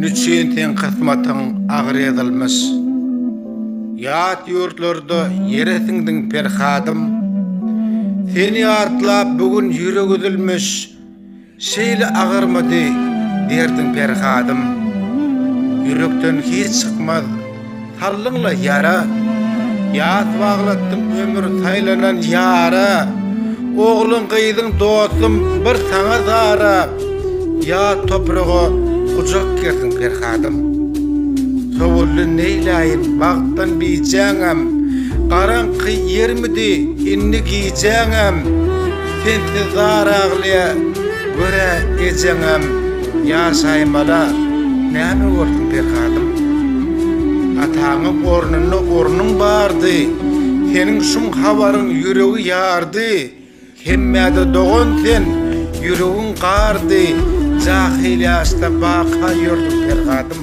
Nüçin sen kysmatyň agyr ýazylmyş Ýat ýurtlarda ýere siňdiň Perhadym Seni ýatlap bu gün ýürek üzülmüş Şeýle agyrmydy derdiň Perhadym Ýürekden hiç çykmaz Saldyň-la ýara, ýas baglatdyň ömür saýlanan ýara, Ogluň, gyzyň, dostum, bir saňa zara, Ýat topraga gujak gerdiň Perhadym. Sowuldy neýläýin bagtdan bijäňem, Garaňky ýermidi indi gijäňem, Sensiz zar aglaýa, görä, ejeňem. Ýasaýyn bala, näme bolsun Pekadym? Ataňyň ornunda ornuň bardy. Seniň şum habaryň ýüregi ýardy. Hemmä-de dogan sen, ýüregiň gardy. Jahyl ýaşda baka ýördüň Pergadym.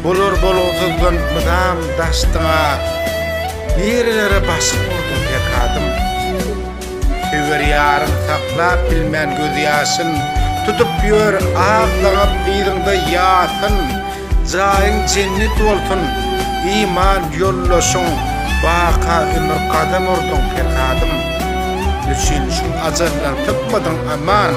Bular bolgusyzdan mydam daşdyň-a, nirelere başyň urduň pekadym? Söýer ýaryň saklap bilmän gözýaşyn, tutup ýör aglaňyp yzyňda ýasyn, jaýyň jennet bolsun, iman ýoldaşyň baka ömür gadam urduň pekadym? Nüçin şum ajaldan sypmadyň aman?